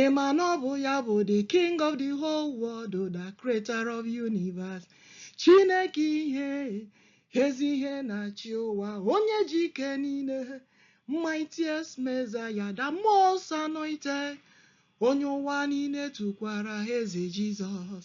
Ị ma na ọ bụ ya bụ the king of the whole world, the creator of universe. Chineke ihe, ezi ihe na-achị ụwa, onye ji ike niile, mightiest Messiah, the most anointed, onye ụwa niile tụkwara eze Jizọs.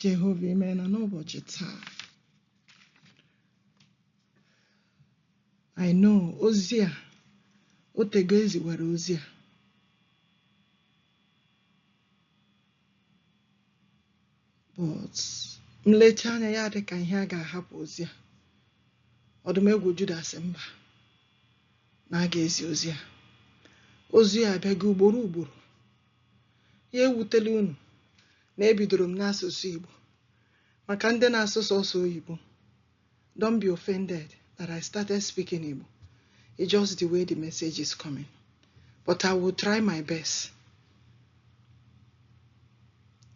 Jehova imeena n'ụbọchị taa I know ozi a otego e ziwere ozi a but m lechaa anya ya dị ka ihe a ga-ahapụ ozi a ọdụm egwu Juda sị mba na a ga-ezi ozi a ozi a abịago ugboro ugboro Ya ewutela unu na ebidoro m n'asụsụ Igbo maka ndị na-asụ sọsọ oyibo. Don't be offended that I started speaking Igbo. It's just the way the message is coming. But I will try my best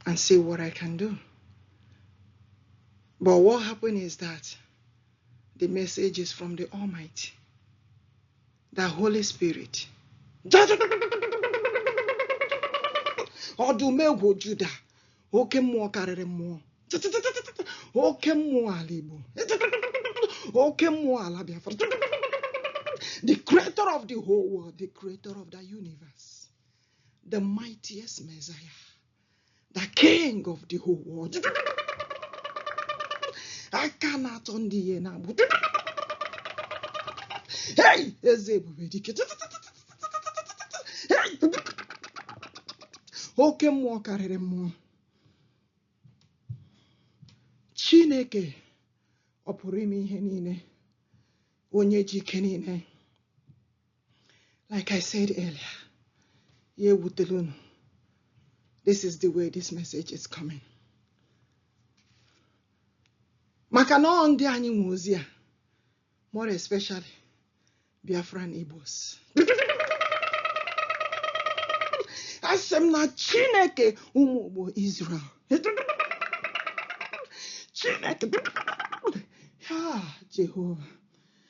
and see what I can do. But what happened is that the message is from the Almighty. the holy spirit ọdụm egwu juda oke mmụọ karịrị mmụọ oke mmụọ ala igbo oke mmụọ ala biafra the creator of the whole world the creator of the universe the mightiest messiah the king of the whole world aka na-atọ ndị ihe na-agbụ hey eze ebube dike Hey! oke mmụọ karịrị mmụọ chineke ọ pụrụ ime ihe niile onye ji ike niile like I said earlier ya ewutela unu this is the way this message is coming maka na ọ ndị anyị nwe ozi a more especially Biafran Igbos asị m na Chineke ụmụ Igbo Israel Chineke ha Jehova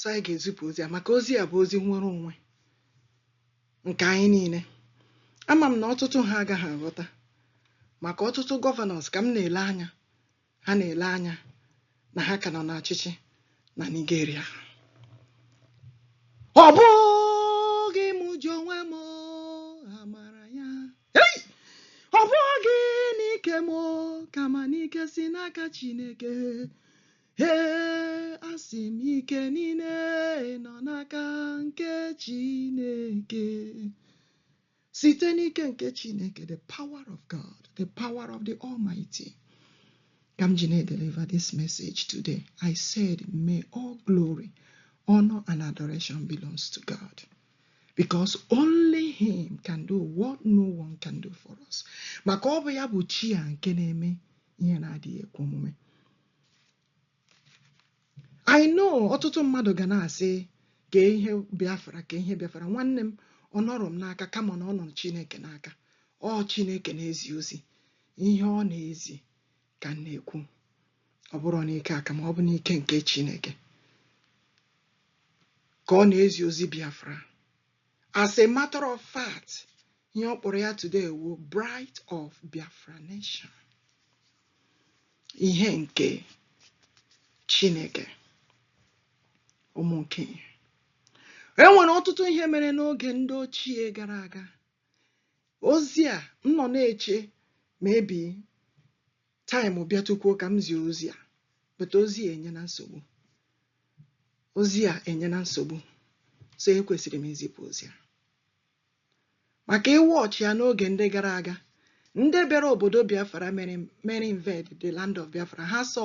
so anyị ga-ezipụ ozi a maka ozi a bụ ozi nnwere onwe nke anyị niile ama m na ọtụtụ ha agaghị aghọta maka ọtụtụ gọvanọs ka m na-ele anya ha na-ele anya na ha ka nọ n'ọchịchị na Nigeria ọ bụghị m ji onwe m amara ya Hey! ọ bụghị n'ike m kama n'ike si n'aka Chineke Ee, asị m ike niile nọ n'aka nke Chineke. Site n'ike nke Chineke, the power of God, the power of the Almighty. Ka m ji na-edeliver this message today. I said, may all glory, honor and adoration belongs to God. Because only him can do what no one can do for us. Maka ọ bụ ya bụ chi a nke na-eme ihe na-adịghị ekwe omume. I know ọtụtụ mmadụ ga na-asị ka ihe Biafra ka ihe Biafra nwanne m ọ nọrọ m n'aka kama na ọ nọ Chineke n'aka ọ Chineke na-ezi ozi ihe ọ na-ezi ka m na-ekwu ọ bụrụ n'ike kama ọ bụ n'ike nke Chineke ka ọ na-ezi ozi Biafra As a matter of fact, ihe ọ kpọrọ ya today wụ Bright of Biafra Nation. Ihe nke Chineke, ụmụ nke ihe. E nwere ọtụtụ ihe mere n'oge ndị ochie gara aga. Ozi a m nọ na-eche maybe Time bịatụkwuo ka m zie ozi a but ozi a enyena nsogbu ozi a enyena nsogbu so ekwesịrị m izipụ ozi a maka ịwa ọchị ya n'oge ndị gara aga ndị bịara obodo Biafra mere invade the land of Biafra ha sọ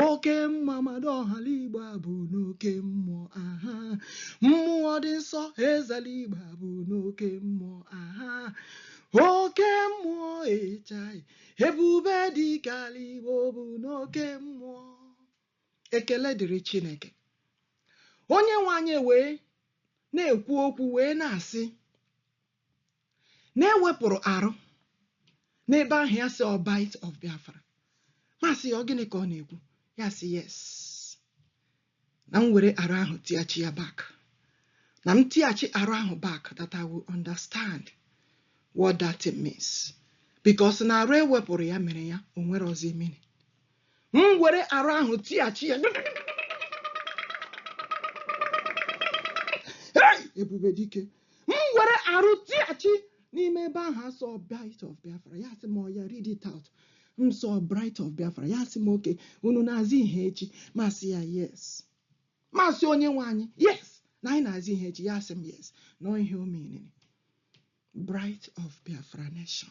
Oke mma mmadụ ọhala Igbo abụ n'oke mmụọ aha mmụọ dị nsọ ezela Igbo abụ n'oke mmụọ aha oke mmụọ ịchai ebube dike la Igbo bụ n'oke mmụọ ekele dịrị Chineke onye nwe anyị wee na-ekwu okwu wee na-asị na e wepụrụ R n'ebe ahụ ya sị ọ Bight of Biafra m asị ya ọ gịnị ka ọ na-ekwu ya sị yes na m were R ahụ tiachi ya back na m tiachi R ahụ back that I will understand what that means because na R e wepụrụ ya mere ya o nwerọzi meaning m were R ahụ tighachi ya Hey! ebube dike m were R tighachi n'ime ebe ahụ a sị Bight of Biafra ya sị m oya read it out m sị Bright of Biafra ya sị m okay unu na-aza Ihechi m asị ya yes m asị onye nwe anyị yes na anyị na-aza Ihechi ya sị m yes na ọ ihe ọ meaniri Bright of Biafra Nation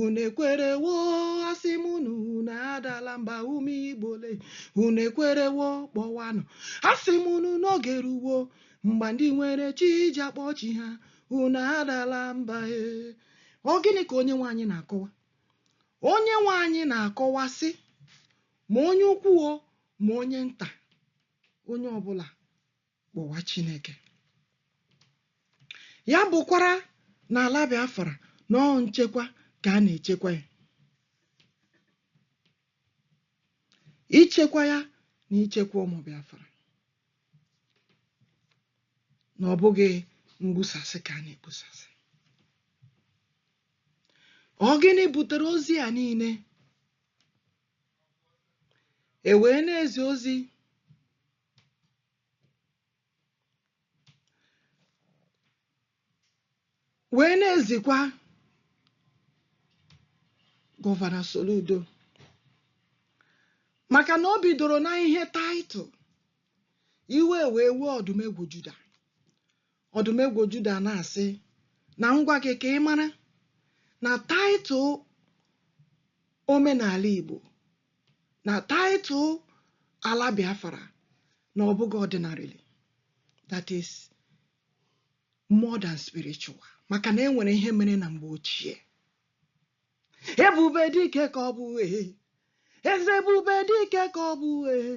unu ekwerewo asị m unu unu adala mba ụmụ Igbo le unu ekwerewo kpọwanụ asị m unu n'oge eruwo mgbe ndị nwere chi ji akpọ chi ha unu adala mba e ọ gịnị ka onye nwe anyị na-akọwa onye nwe anyị na-akọwa sị ma onye ukwu o ma onye nta onye ọbụla kpọwa Chineke ya bụkwara na ala Biafra na ọ nchekwa ka a na-echekwa ya ichekwa ya na ichekwa ụmụ Biafra na ọ bụghị mgbusasị ka a na-egbusasị ọ gịnị butere ozi a niile e wee na-ezi ozi wee na-ezikwa gọvanọ Soludo maka na o bidoro na ihe title iwe wee wee ọdụmegwu Juda ọdụmegwu Juda na-asị na m gwa gị ka ị mara na title omenala Igbo na title ala Biafra na ọ bụghị ordinarily that is more than spiritual maka na e nwere ihe mere na mgbe ochie ebube dike ka ọ bụ ee eze ebube dike ka ọ bụ ee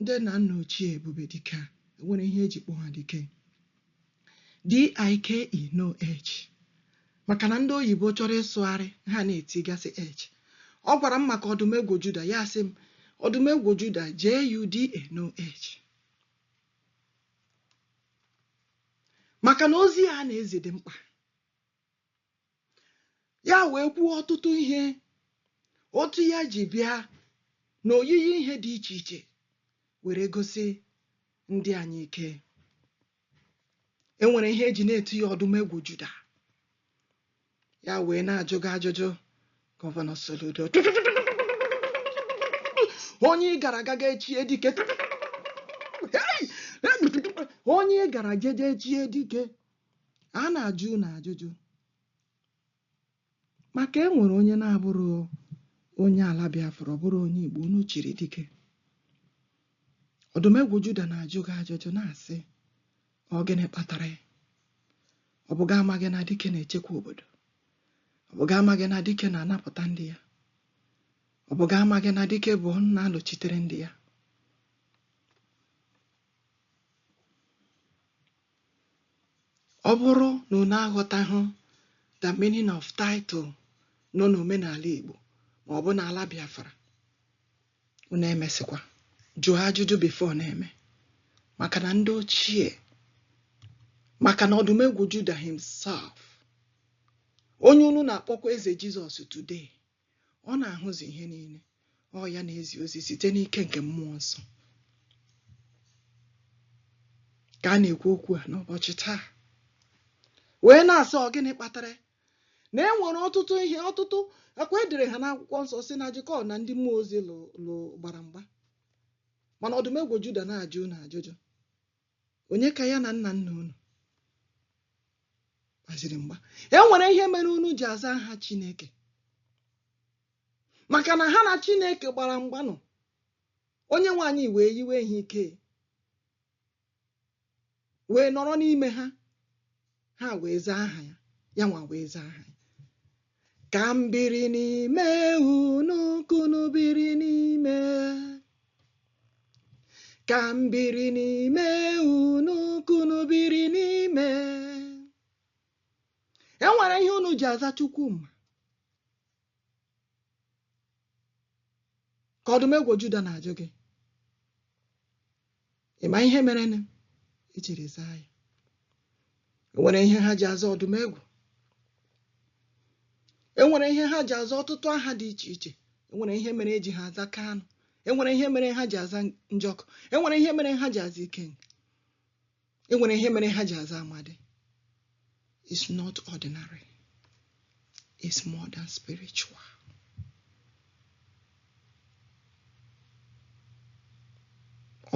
ndị nna nna ochie ebube dike a enwere ihe eji kpọọ ha dike dike no h maka na ndị oyibo chọrọ ịsụgharị ha na-etigasị h ọ gwara m maka ọdụmegwu juda ya sị m ọdụmegwu juda juda no h maka na ozi a na-ezi dị mkpa ya wee kwuo ọtụtụ ihe otu ya ji bịa na oyiyi ihe dị iche iche were gosi ndị anyị ike e nwere ihe eji na-etu ya ọdụmegwu juda ya wee na-ajụ gị ajụjụ gọvanọ Soludo onye ị gara aga ga-echie dike onye ị gara jeje echie dike A na-ajụ unu ajụjụ maka e nwere onye na-abụrọ onye ala Biafra, ọ bụrọ onye Igbo, unu chiri dike. Ọdụmegwu Juda na-ajụ gị ajụjụ na-asị, ọ gịnị kpatara ya? Ọ bụ gị amaghị na dike na-echekwa obodo? Ọ bụ gị amaghị na dike na-anapụta ndị ya? Ọ bụ gị amaghị na dike bụ na-alụchitere ndị ya? Ọ bụrụ na unu aghọtahụ the meaning of title nọ n'omenala Igbo ma ọ bụ n'ala Biafra, unu emesịkwa jụọ ajụjụ before na-eme maka na ndị ochie maka na ọdụmegwu Juda himself onye unu na-akpọkwa eze Jizọs today ọ na-ahụzi ihe niile ọ ya na-ezi ozi site n'ike nke mmụọ nsọ ka a na-ekwu okwu a n'ụbọchị taa wee na-asị ọ gịnị kpatara na e nwere ọtụtụ ihe ọtụtụ ọ kwa e dere ha n'akwụkwọ nsọ sị na Jekọb na ndị mmụọ ozi lụ gbara mgba mana ọdụmegwu juda na-ajụ na ajụjụ onye ka ya na nna nna unu gbaziri mgba e nwere ihe mere unu ji aza aha Chineke maka na ha na Chineke gbara mgbanụ Onyenwe anyị wee yiwe ha ike wee nọrọ n'ime ha ha wee zaa aha ya ya nwa wee zaa aha ya ka m biri n'ime unu ka unu biri n'ime ka m biri n'ime unu ka unu biri n'ime e nwere ihe unu ji aza Chukwuma ka ọdụmegwu juda na-ajụ gị ị ma ihe mere na e jiri zaa ya e nwere ihe ha ji aza ọdụmegwu e nwere ihe ha ji aza ọtụtụ aha dị iche iche e nwere ihe mere eji ha aza kanụ e nwere ihe mere ha ji aza njọkụ e nwere ihe mere ha ji aza ikenga e nwere ihe mere ha ji aza amadi It's not ordinary. It's more than spiritual.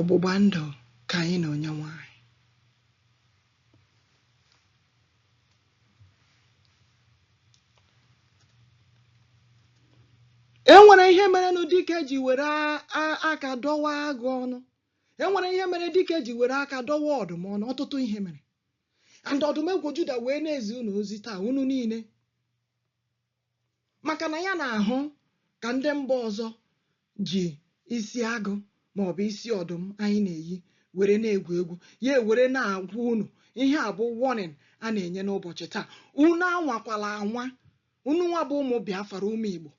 ọgbụgba ndụ ka anyị na Onyenwe anyị e nwere ihe mere na dike ji were aka dọwa agụ ọnụ e nwere ihe mere dike ji were aka dọwa ọdụm ọnụ ọtụtụ ihe mere and ọdụmegwu juda wee na-ezi unu ozi taa unu niile maka na ya na-ahụ ka ndị mba ọzọ ji isi agụ ma ọ bụ isi ọdụm anyị na-eyi were na-egwu egwu ya were na-agwa unu ihe a bụ warning a na-enye n'ụbọchị taa unu anwakwala anwa unu nwa bụ ụmụ biafra ụmụ igbo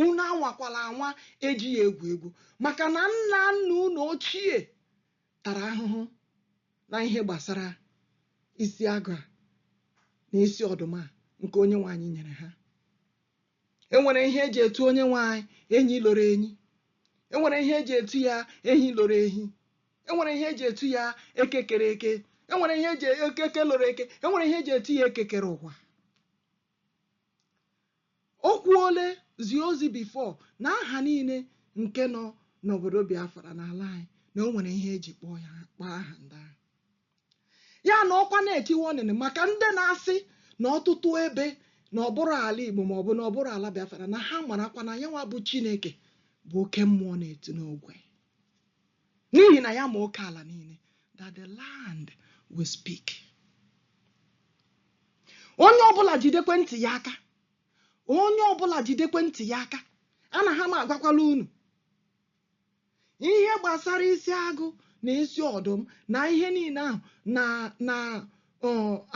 unu anwakwala anwa eji ya egwu egwu maka na nna nna unu ochie tara ahụhụ na ihe gbasara isi agụ a na isi ọdụm a nke onye nwe anyị nyere ha enwere ihe eji etu onye nwe anyị enyi loro enyi enwere ihe eji etu ya ehi loro ehi enwere ihe eji etu ya eke kere eke enwere ihe eji eke loro eke enwere ihe eji etu ya eke kere ụwa o kwuole zie ozi before na aha niile nke nọ n'obodo Biafra n'ala anyị na o nwere ihe eji kpọọ ya kpọọ aha ndị ahụ ya nọkwa na-eti warning maka ndị na-asị na ọtụtụ ebe na ọ bụrụ ala Igbo ma ọ bụ na ọ bụrụ ala Biafra na ha marakwa na ya nwa bụ Chineke bụ oke mmụọ na-eti n'ogwe n'ihi na ya ma oke ala niile that the land will speak onye ọbụla jidekwe ntị ya aka onye ọbụla jidekwe ntị ya aka ana ha m agwakwala unu ihe gbasara isi agụ na isi ọdụm na ihe niile ahụ na na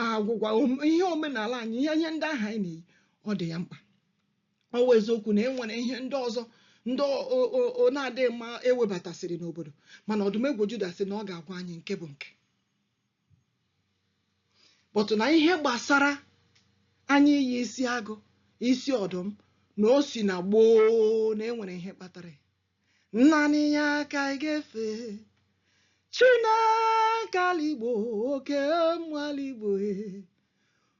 agwụgwa ihe omenala anyị ihe ihe ndị ahụ anyị na-eyi ọ dị ya mkpa ọ wụ eziokwu na e nwere ihe ndị ọzọ ndị ọ- ọ- ọ- ọ na-adịghị mma ewebatasịrị n'obodo mana ọdụm egwu juda sị na ọ ga-agwa anyị nke bụ nke but na ihe gbasara anyị iyi isi agụ isi ọdụm na o si na gboo na enwere ihe kpatara ya. naanị ya ka anyị ga-efe chineke ala igbo oke mmụọ ala igbo e.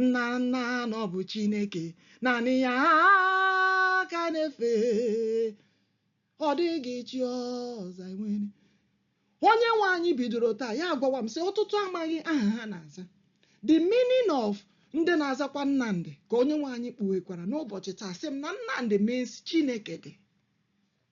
nna nna na ọ bụ chineke naanị ya ka a na-efe ọ dịghị chi ọzọ anyị nwere onye nwe anyị bidoro taa ya agwawa m sị ọtụtụ amaghị aha ha na-aza the meaning of ndị na-azakwa nnamdị ka onye nwe anyị kpughekwara n'ụbọchị taa sị m na nnamdị means chineke dị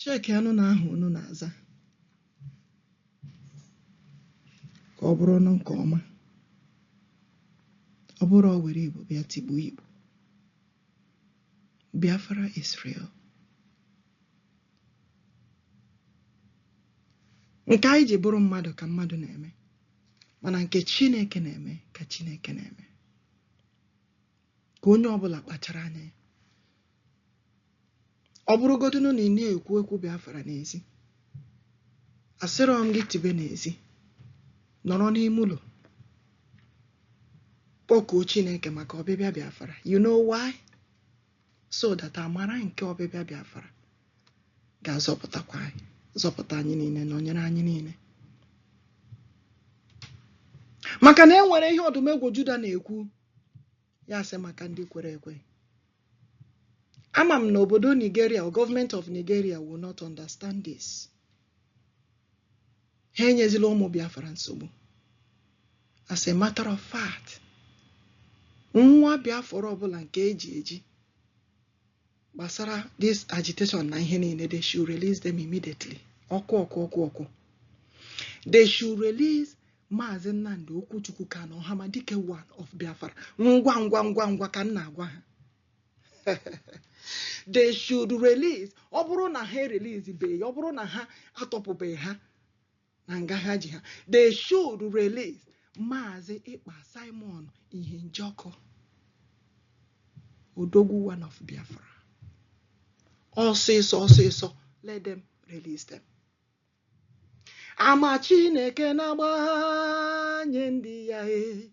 Checkianụ na aha unu na-aza ka ọ bụrụ unu nke ọma. Ọ bụrụ o were Igbo bịa tigbuo Igbo. Biafra is real. Nke anyị ji bụrụ mmadụ ka mmadụ na-eme mana nke Chineke na-eme ka Chineke na-eme. ka onye ọbụla kpachara anya ọ bụrụgodịnụ na ị na-ekwu ekwu Biafra n'ezi asịrọ m gị tibe n'ezi nọrọ n'ime ụlọ kpọkuo Chineke maka ọbịbịa Biafra you know why so that amara nke ọbịbịa Biafra ga-azọpụtakwa anyị zọpụta anyị niile nọnyere anyị niile maka na e nwere ihe ọdụmegwu Juda na-ekwu ya sị maka ndị kwere ekwe ama m na obodo Nigeria or government of Nigeria will not understand this ha enyezila ụmụ Biafra nsogbu as a matter of fact nwa Biafra ọbụla nke e ji eji gbasara this agitation na ihe niile they should release them immediately ọkụ ọkụ ọkụ ọkụ they should release maazị nnamdị okwuchukwu kanu ọhamadike one of biafra ngwa ngwa ngwa ngwa ka m na-agwa ha they should release ọ bụrụ na ha erelease beghị ọ bụrụ na ha atọpụbeghị ha na nga ha ji ha they should release maazị ekpa simon ihe njọkụ odogwu one of biafra ọsịsọ ọsịsọ let them release them ama chineke na-agbanye ndị ya e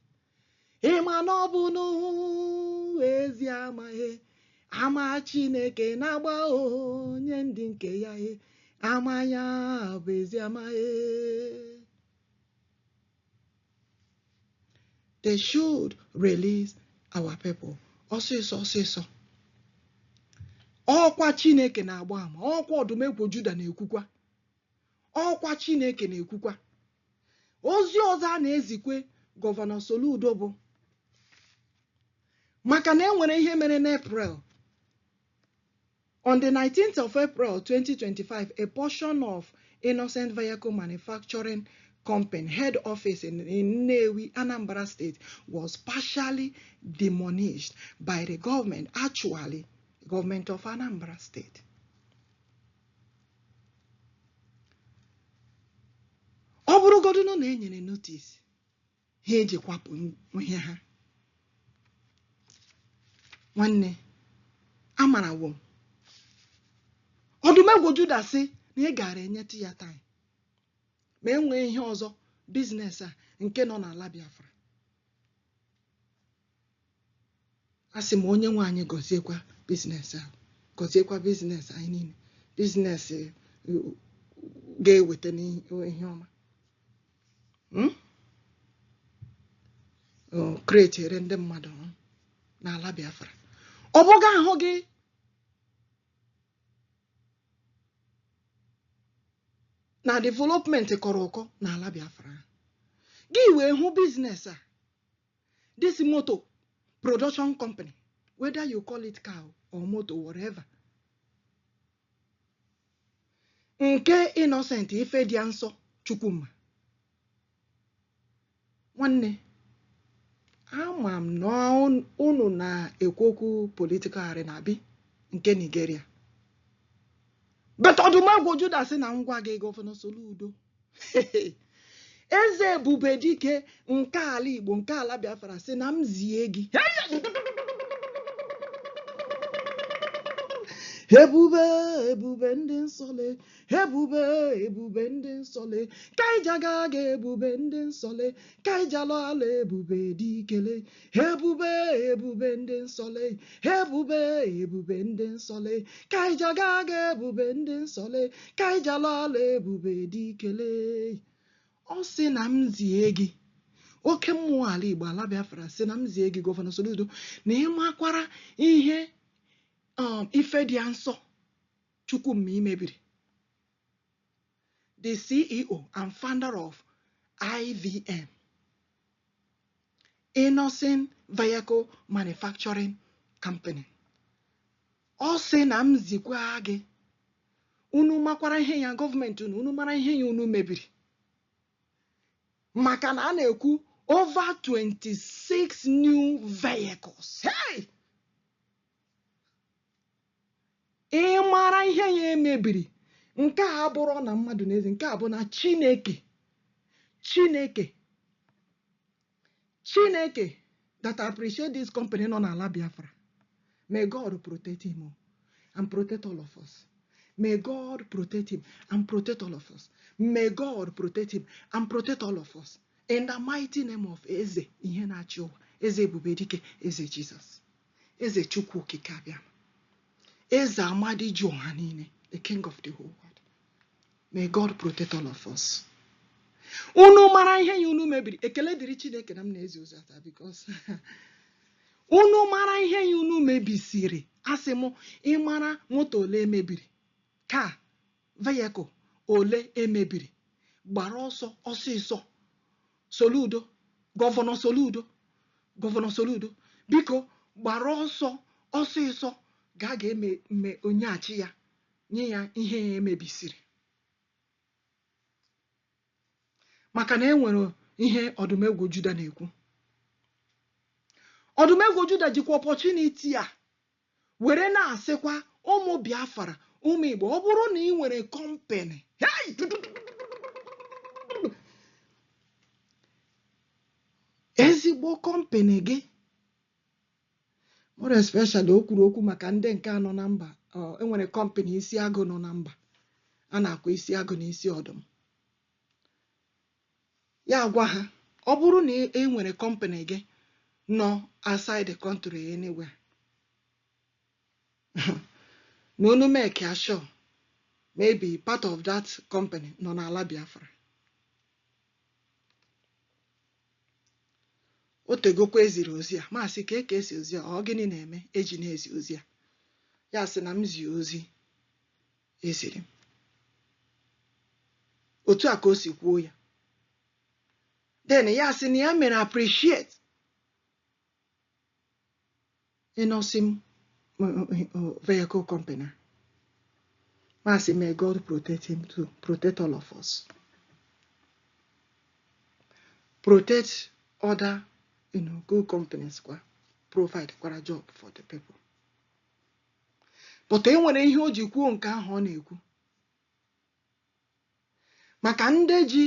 ị ma na ọ bụ n'ezi ama ama chineke na-agba onye ndị nke ya e ama ya bụ ezi ama e they should release our people ọsịsọ ọsịsọ ọkwa chineke na-agba ama ọkwa ọdụmegwu juda na-ekwukwa ọkwa chineke na-ekwukwa ozi ọzọ a na-ezikwe gọvanọ Soludo bụ maka na e nwere ihe mere n'April on the 19th of April 2025 a portion of Innoson Vehicle Manufacturing Company head office in, in Nnewi, Anambra State was partially demolished by the government, actually government of Anambra State. ọ bụrụgodu na e nyere notice ha eji kwapụ ihe ha nwanne amarawo m ọdụmegwu juda sị na ị gaara enyetụ ya time ma enwee ihe ọzọ business a nke nọ n'ala biafra a sị m onye nwe anyị gọziekwa business ahụ gọziekwa business anyị niile business ga-eweta n'ihe ọma hmm? createre ndị mmadụ n'ala Biafra ọ bụ gị ahụghị na development kọrọ ụkọ n'ala Biafra gị wee hụ business a this motor production company whether you call it car or motor whatever nke innocent ifedianso chukwuma nwanne ama m na unu na-ekwu okwu political arena bụ nke nigeria but ọdụmegwu juda sị na m gwa gị gọvanọ soludo eze ebube dike nke ala igbo nke ala biafra sị na m zie gị ebube ebube ndị nsọ le ebube ebube ndị nsọ le ka i ji aga aga ebube ndị nsọ le ka i ji ala ala ebube dike le ebube ebube ndị nsọ le ebube ebube ndị nsọ le ka i ji aga aga ebube ndị nsọ le ka i ji ala ala ebube dike le ọ sị na m zie gị oke mmụọ ala igbo ala biafra sị na m zie gị gọvanọ soludo na ị makwara ihe um, ifedianso chukwuma i mebiri the CEO and founder of IVM, Innoson Vehicle Manufacturing Company. Ọ sị na m zikwa gị unu makwara ihe ya gọọmenti unu unu mara ihe ya unu mebiri maka na a na-ekwu over 26 new vehicles hey! Ị mara ihe ya e mebiri. Nke a abụrụ na mmadụ na-ezi, nke a bụ na Chineke. Chineke. Chineke that appreciate this company nọ n'ala Biafra. May God protect him oh, and protect all of us. May God protect him and protect all of us. May God protect him and protect all of us. In the mighty name of Eze ihe na-achị ụwa, Eze Ebube Dike, Eze Jizọs. eze chukwu okike abịa eze amadi ji ọha niile the king of the whole world may god protect all of us unu mara ihe ya unu mebiri ekele dịrị chineke na m na-ezi ozi a taa because unu mara ihe ya unu mebisiri asị m ị mara moto ole e mebiri ka vehicle ole e mebiri gbara ọsọ ọsịsọ Soludo gọvanọ Soludo gọvanọ Soludo biko gbara ọsọ ọsịsọ ga ga em em nyeghachi ya nye ya ihe ya e mebisiri maka na e nwere ihe ọdụmegwu Juda na-ekwu ọdụmegwu Juda jikwa opportunity a were na-asịkwa ụmụ Biafra ụmụ Igbo ọ bụrụ na ị nwere company ezigbo company gị more especially o kwuru okwu maka ndị nke a nọ na mba e nwere company isi agụ nọ na mba a na-akwa isi agụ na isi ọdụm Ya agwa ha, ọ bụrụ na ị ị nwere company gị nọ outside the country anywhere, na unu make ya sure maybe part of that company nọ n'ala Biafra. O tegokwa e ziri ozi a, m asị ka eke ezi ozi a, ọ gịnị na-eme e ji na-ezi ozi a? Ya sị na m zie ozi e ziri m otu a ka o si kwuo ya then ya sị na ya mere appreciate Innoson vehicle company a. M asị may God protect him too, protect all of us. Protect other you know, good companies kwa provide kwara job for the people. but e nwere ihe o ji kwuo nke ahụ ọ na-ekwu maka ndị ji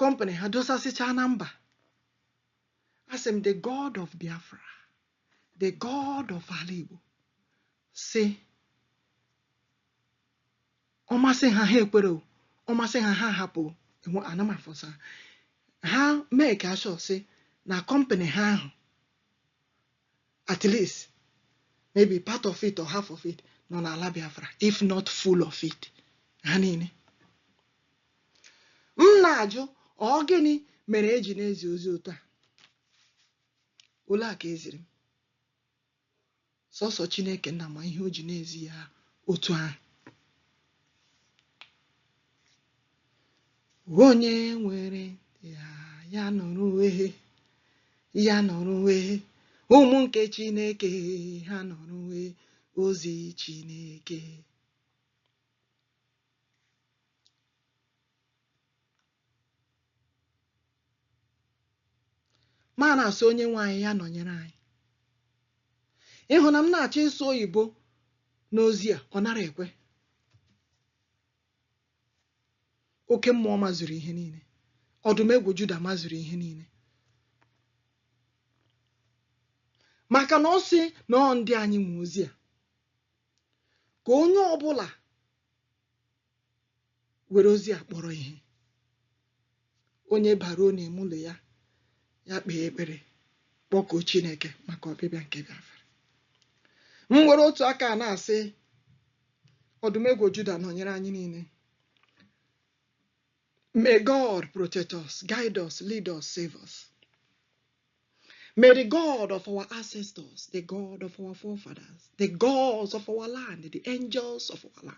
company ha dosasịchaa na mba asị m the god of biafra the god of ala igbo sị ọ masị ha ha ekwere o ọ masị ha ha hapụ ana m aforce ha make sure sị na company ha ahụ at least maybe part of it or half of it nọ n'ala Biafra if not full of it ha niile m na-ajụ ọ gịnị mere e ji na-ezi ozi otu a ole a ka e ziri m sọsọ Chineke nna ma ihe o ji na-ezi ya otu ahụ onye nwere ntị ya nụrụ ehe ya nụrụ ehe ụmụ nke chineke ha nụrụ ehe ozi chineke ma na-asị onye nwe anyị ya nọnyere anyị ị hụ na m na-achọ ịsụ oyibo n'ozi a ọ nara ekwe oke mmụọ mazuru ihe niile ọdụm egwu Juda mazuru ihe niile maka na ọ sị na ọ ndị anyị nwe ozi a ka onye ọbụla were ozi a kpọrọ ihe onye baruo n'ime ụlọ ya ya kpee ekpere kpọkuo Chineke maka ọbịbịa nke Biafra m were otu aka a na-asị Odumegwu Juda nọnyere anyị niile May God protect us, guide us, lead us, save us. May the God of our ancestors, the God of our forefathers, the gods of our land, the angels of our land,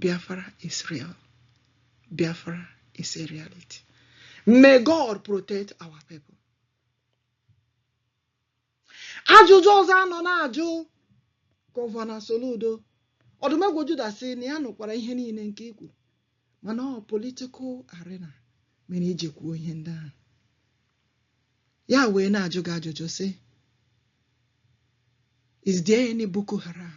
Biafra is real. Biafra is a reality. May God protect our people. Ajụjụ ọzọ a nọ na-ajụ Gọvanọ Soludo Odumegwu Juda sị na ya nụkwara ihe niile nke i kwu mana ọ political arena mere i ji kwuo ihe ndị ahụ ya wee na-ajụ gị ajụjụ sị is there any Boko Haram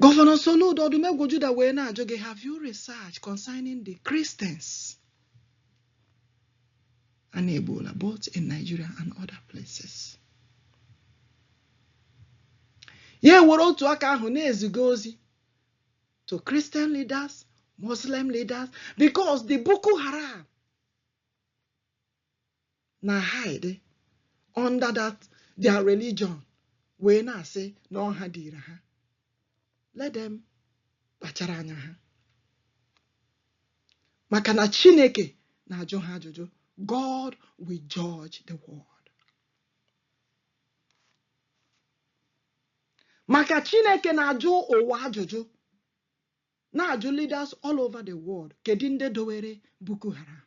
Gọvanọ Soludo Odumegwu Juda wee na-ajụ gị have you research concerning the Christians a na-egbuola both in Nigeria and other places ya ewere otu aka ahụ na-eziga ozi to Christian leaders Muslim leaders because the Boko Haram na hide under that their religion wee na-asị na ọha dịịrị ha let them kpachara anya ha maka na Chineke na-ajụ ha ajụjụ God will judge the world maka Chineke na-ajụ ụwa ajụjụ na-ajụ leaders all over the world kedu ndị dowere Boko Haram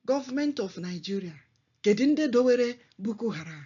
government of Nigeria kedu ndị dowere Boko Haram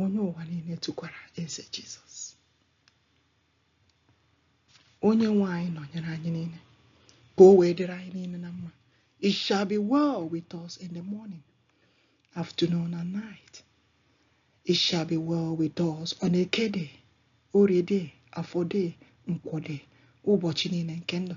onye ụwa niile tụkwara eze Jizọs onye nwe anyị nọnyere anyị niile ka o wee dịrị anyị niile na mma it shall be well with us in the morning afternoon and night it shall be well with us on eke day orie day afọ day nkwọ day ụbọchị niile nke ndụ